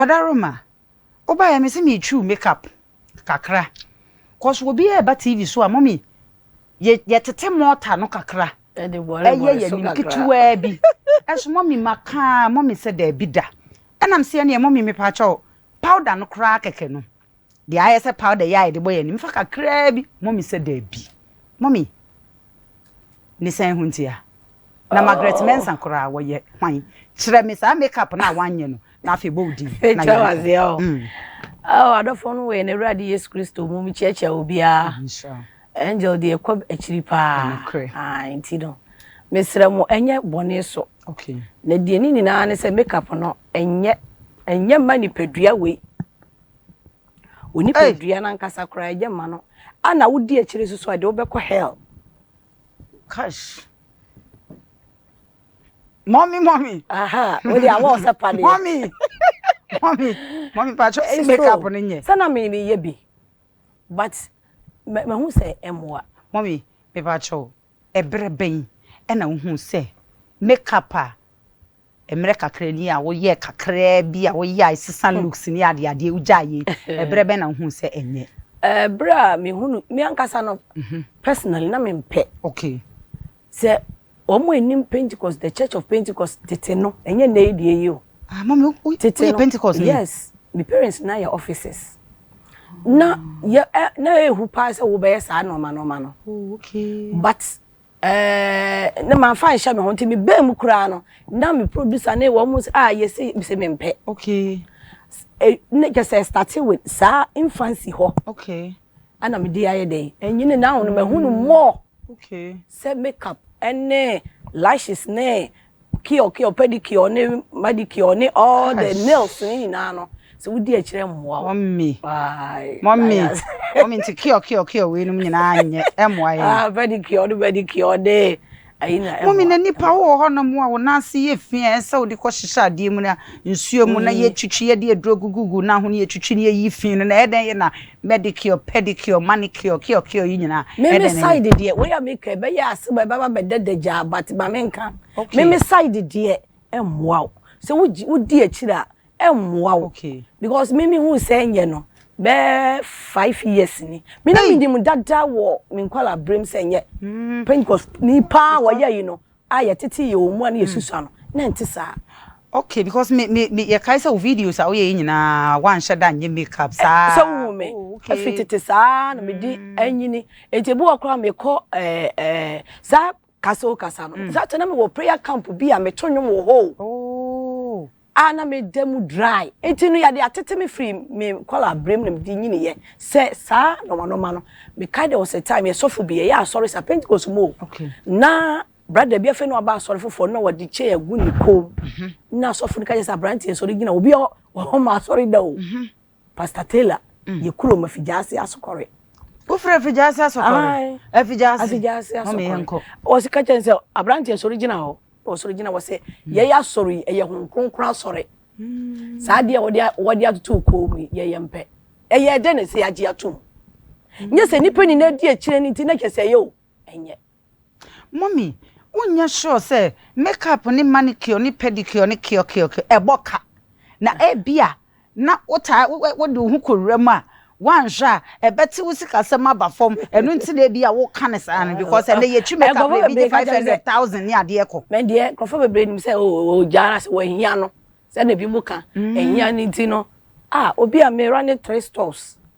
Adaroma, Wobaeɛ mese meretwiw makeup kakra cos obiara ɛba TV so a mummy yɛtete mortar no kakra ɛyɛ yɛnim ketewaa bi ɛso mummy maka mummy sɛ daabi da ɛnam sɛ ɛneɛ mummy mepaakyɛw powder no koraa kɛkɛ no Deɛ ayɛ sɛ powder yi a yɛde bɔ yɛn anim, fa kakraa bi. Mummy sɛ, Dabi. Mummy, ne sɛn ho ntia? Na Margaret Mensah koraa, wɔyɛ hwan? Kyerɛ me saa makeup no a woanyɛ no, na afei bɔ wo din na yɛnkɔ. Ɛtwa wo aseɛ o. Oh, adɔfoɔ no wɔ yɛn Awurade Yesu Kristo mu, mekyerɛkyerɛ obiara. Nhyira wo. Angel deɛ kɔ akyiri paa. Nokorɛ. Ah, nti no, mesrɛ mo, ɛnyɛ bɔne so. Okay. Na deɛ ne nyinaa ne sɛ makeup no, ɛnyɛ, ɛnyɛ mma nipadua wei. Wo nipadua no ankasa koraa ɛnyɛ mma no. A na wodi akyire nso so a, ɛde wobɛkɔ hell. Kash. Mommy, mommy. Aha, wo de awɔ sɛ padeɛ. Mommy. Mommy, mommy, patro, si makeup no nyɛ. Sɛ na me meyɛ bi, but mahu sɛ ɛmmoa. Mommy, me patro, ɛberɛ bɛn ɛna wohu sɛ makeup a Mmerɛ kakra ni a woyɛɛ kakraa bi a woyɛ a sesa looks ne adeɛ adeɛ wogyaeɛ yi, berɛ bɛn na wohuu sɛ ɛnyɛ? Berɛ a mehunu, me ankasa no personally na mempɛ. Okay. Sɛ wɔn a ɛnim Pentecost, the church of Pentecost tete no, ɛnyɛ nnɛ yi deɛ yi o. Ah, mami, woyɛ Pentecost ni? Yes, me parents na yɛ officers. Na yɛ, na ɛhu paa sɛ wobɛyɛ saa nɔɔma nɔɔma no. Oh, okay. But Ɛɛɛɛɛ na manfa anhyɛ me ho nti me baa mu koraa no na me producer ne wɔn sɛ ah yɛsi sɛ me mpɛ. Okay. Eh, ne kyɛ sɛ starting with saa infancy hɔ. Okay. Ɛna me de ayɛ dɛn ɛnyini na ahono ma ɛhunu more. Okay. Sɛ makeup ɛne lashes ne cure cure pedicure ne manicure ne all the nails ne nyinaa no sɛ wodi akyerɛ mmoa wo. mɔmi mɔmi mɔmi nti cure cure cure wei nom nyinaa nyɛ ɛmmoa yɛ. ah pedicure ne manicure ne ayi na ɛmmoa. mɔmi na nipa wɔ hɔ nom a wɔn ase yɛ fi a ɛsɛ wɔde kɔ hyehyɛ adeɛ mu na nsuo mu na mm. yɛtwitwi yɛde aduro gugugu na ho yɛtwitwi ne yɛyi fi no na ɛdɛn yɛ na Medicure, pedicure, manicure, cure, cure yi nyinaa. Me me side deɛ wei a me ka ɛbɛyɛ asɛm a ɛbɛba bɛda dagyaa but ma me nka. Me me side deɛ ɛmmoa wo. Sɛ wogye wodi akyiri a ɛmmoa wo. Because me me hu sɛ ɛnyɛ no bɛɛ five years ni. Me na me nim dada wɔ me nkwadaa berem sɛ ɛnyɛ. Pentecost ni paa wɔyɛ yi no a yɛtete yɛ wɔn mu a na yɛsusua no, na ɛnte saa. Okay, because me, me, me, yɛkae sɛ wo videos a woyɛ yi nyinaa, woanhyɛ da nyɛ makeup saa. Sɛ wohu me, oh, okay. ɛfiri tete saa na medi mm. anyini. Enti ebi wɔ koraa mekɔ eh, eh, saa kasa o kasa no. Mm. Saa kyɛ na mewɔ prayer camp bi a meto nnwom wɔ hɔ o. Oh. a na me da mu dry nti no yɛde atete me firi me nkɔla berɛ mu na mede nyiniiɛ sɛ saa nɔmanɔma no me kae there was a time yɛ sɔfo bi yɛyɛ asɔre sa pentecost mu o okay. na brada bi afei na waba asɔre foforɔ na wɔde kyɛ agu ne kɔn mu mhm. na asɔfo no ka kyɛ sɛ aberanteɛ sɔre gyina obi ɔhɔ ma asɔre da o mhm. Pastor Taylor yɛ kuro ma Fijaase Asokɔre. Wofiri Fijaase Asokɔre? Ae. Fijaase. Fijaase Asokɔre. Mami yɛn kɔ. Wɔsi ka kyɛn sɛ aberanteɛ sɔre gyina hɔ. Wɔsɔre gyina wɔsɛ yɛyɛ asɔre yi ɛyɛ hon kronkron asɔre. Saa adeɛ wɔde wɔde atoto okoo mu yi yɛyɛ mpɛ. Ɛyɛ dɛ na ɛsɛ yɛagye atum. Nyɛ sɛ nipa nyinaa di akyire no nti na kyɛ sɛ ɛyɛ o. Ɛnyɛ. Mummy, wonyɛ sure sɛ makeup ne manicure ne pedicure ne kiɔkiɔkiɔ ɛbɔ ka? Na ebia na wotaa wode wo ho kɔwura mu a, woanhwɛ a ɛbɛte wo sikasɛm aba fam. Ɛno nti na ebia woka no saa no because ɛnnɛ yɛtwi makeup no ebi gye five hundred thousand ne adeɛ kɔ. Me deɛ nkurɔfoɔ bebree nim sɛ oh ogya ara sɛ wɔahia no sɛdeɛ ebinom ka. Ahia no nti no ah obi a me running three stores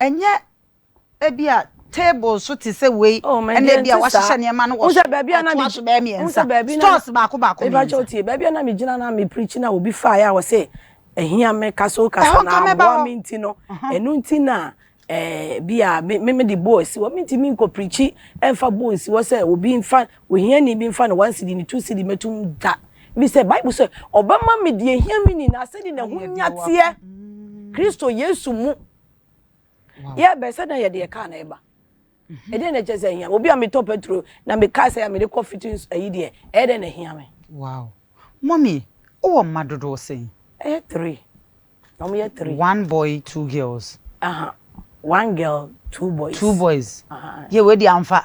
Ɛnyɛ ebia table nso te sɛ wei Oh, me ɛna deɛ ebia nte saa. wahyehyɛ nneɛma no wɔ Wohu sɛ so baabi a na ɛto me- aso bɛyɛ wohu mmiɛnsa sɛ baabi na- stores baako baako Mefa kyɛw mmiɛnsa tie, baabi a na megyina na me preach na obi faeɛ a ɔse ɛhia me kasa o Ɛhɔ kasa nka na mɛba aboa hɔ. me nti no ɛno nti na eh, bi a me me mede boɔ asi hɔ mentumi nkɔ preachi ɛmfa boɔ nsi hɔ sɛ obi mfa Ohiani bi mfa ne one cedi, ne two cedi mmɛto mu da, efisɛ Bible se, Ɔbɛma me deɛ ehia me nyinaa sɛdeɛ n'ahonya teɛ, Kristo Yesu mu. Yɛ bɛsɛ dɛn yɛde yɛ kaa na ɛba? Ɛdeɛn na ɛkyɛ sɛ ehia me? Obi a metɔ petro na mekae sɛ mede kɔ fitting ayi deɛ, ɛyɛ dɛn na ehia me? Wow! Mummy, wowɔ mma dodoɔ sɛn? Ɛyɛ three. Na wɔn yɛ three. One boy, two girls. Aha, one girl, two boys. Two boys. Aha. Yɛ wei deɛ amfa.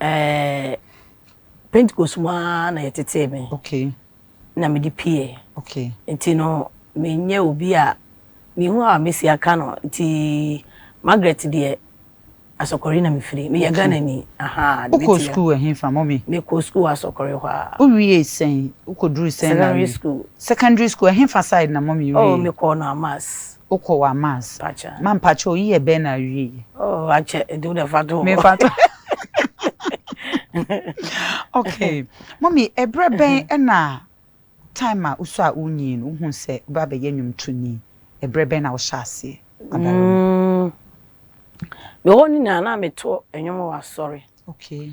Ɛɛ, Pentekost mu ara na yɛtetee me. Okay. Na mede pieeɛ. Okay. Nti no, menyɛ obi a mehu a mɛsi aka no. Nti Margaret deɛ, Asɔkɔre na mefiri. Meyɛ Ghanani. Aha. Wokɔɔ sukuu ɛhefa, mummy? Mekɔɔ sukuu Asɔkɔre hɔ a. Wowiee sɛn? Wokɔduruu sɛn na awie? Secondary school. Secondary school, ɛhefa side na mummy wiee? Oh, mekɔɔ Noamas. Wo kɔ wa mass. Pacha. Ma mpakyɛw yi yɛ bɛn na awie yi. Oh akyɛ nti wo dɛ fa to hɔ. Me fa to. Okay mommy ɛbrɛ bɛn ɛna time a wo sɔ a wo nyin wo hu sɛ wo bɛ abɛ yɛ nwom to ni ɛbrɛ bɛn na wo hyɛ aseɛ abɔre mu. Mm me hɔ nyinaa na me to nwom wɔ asɔre. Okay.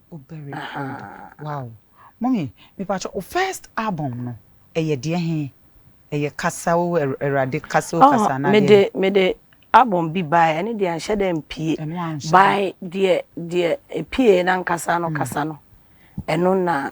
O very good wow mummy mepakyɛw wo first album no ɛyɛ deɛ he ɛyɛ kasa o awurade kasa o kasa anaa deɛ mede mede album bi bae ɛne deɛ anhyɛ dɛ mpie bae deɛ deɛ epie nankasa no kasa no ɛno na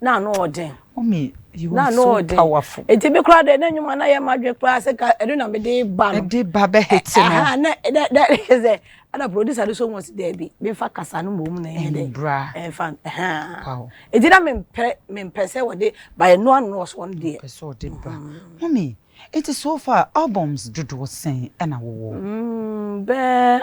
na ano ɔden Mommy, you na are ano so ɔden powerful. eti mi koraa deɛ na enyuma na yɛ ma dwe koraa sɛ ka ɛno na mi de ba no Ɛde ba bɛ hit no. ɛha na na na sɛ ɛna producer no so wɔn si dɛbi mi nfa kasa no mbom na ɛnyɛ dɛ Mbra. ɛnfa ɛhaa Wow. eti na mi mpɛ mi mpɛ sɛ wɔde ba yɛ no ano ɔso wɔn deɛ Pɛ sɛ ɔde ba. Mommy, enti so far albums dodoɔ sɛn ɛna wowɔ? mm, bɛɛ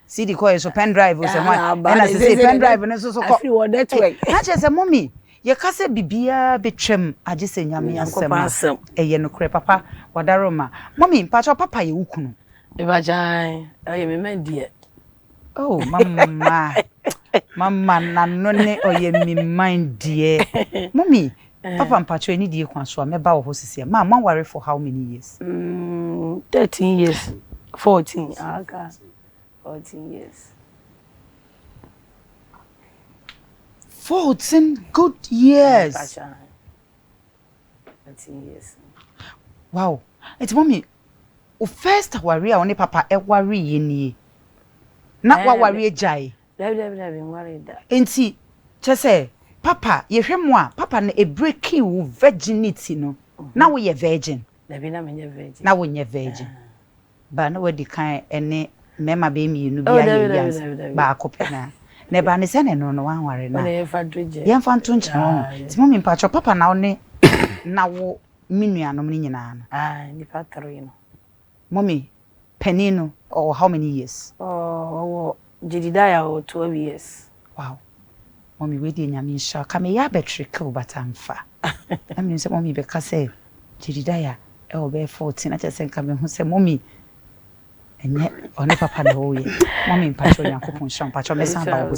CD kɔɛ so pen drive o sɛ hwan ɛna sese pen drive no nso so kɔ afiri wɔ network eh, na kyerɛ sɛ mɔmi yɛka sɛ biribiara bɛtwam agye sɛ nyame asɛm a ɛyɛ nokorɛ papa wadaro ma mɔmi mpakyɛ papa yɛ wo kunu ɛbagyae ɛyɛ me ma deɛ oh mama mama nano ne ɔyɛ me man deɛ mɔmi Papa mpakyɛw anidie kwan so a mɛba wɔ hɔ sisiɛ ma mo aware for how many years? Mm thirteen years fourteen aka fourteen years. Fourteen good years. Fourteen years. Wow nti mɔmi o first aware a ɔne papa ɛware yɛ nie na waware agyae. Dabi dabi dabi nwaree da. Nti kyerɛ sɛ papa yɛhwɛ mu a papa no ɛbreaki wo virginity no na wo yɛ virgin? Dabi na me nyɛ virgin. Na wo nyɛ virgin but na wadi kan ɛne mmarima bɛyɛ mmienu bi ayɛ awie ansa baako pɛ na na ɛbaa no sɛ na ɛno no wanware no a yɛmfa nto nkyɛn wahu nti mummy mpakyɛw papa na wo ne na wo me nuanom no nyinaa no. Aah nnipa three no. Mummy panin no ɔwɔ how many years? Ɔɔ ɔwɔ Jedidiah ɔwɔ twelve years. Wow mummy wei deɛ Nyame nhyira wo ka meyɛ abɛtwere kill but amfa na menim sɛ mummy bɛka sɛ Jedidiah ɛwɔ bɛyɛ fourteen na kyerɛ sɛ nka mehu sɛ mummy ɛnyɛ ɔne papa na ɛwɔ yɛ mummy mpakyɛw Nyankopɔn nhyira wo mpakyɛw mɛsan aba wo hɔ bio.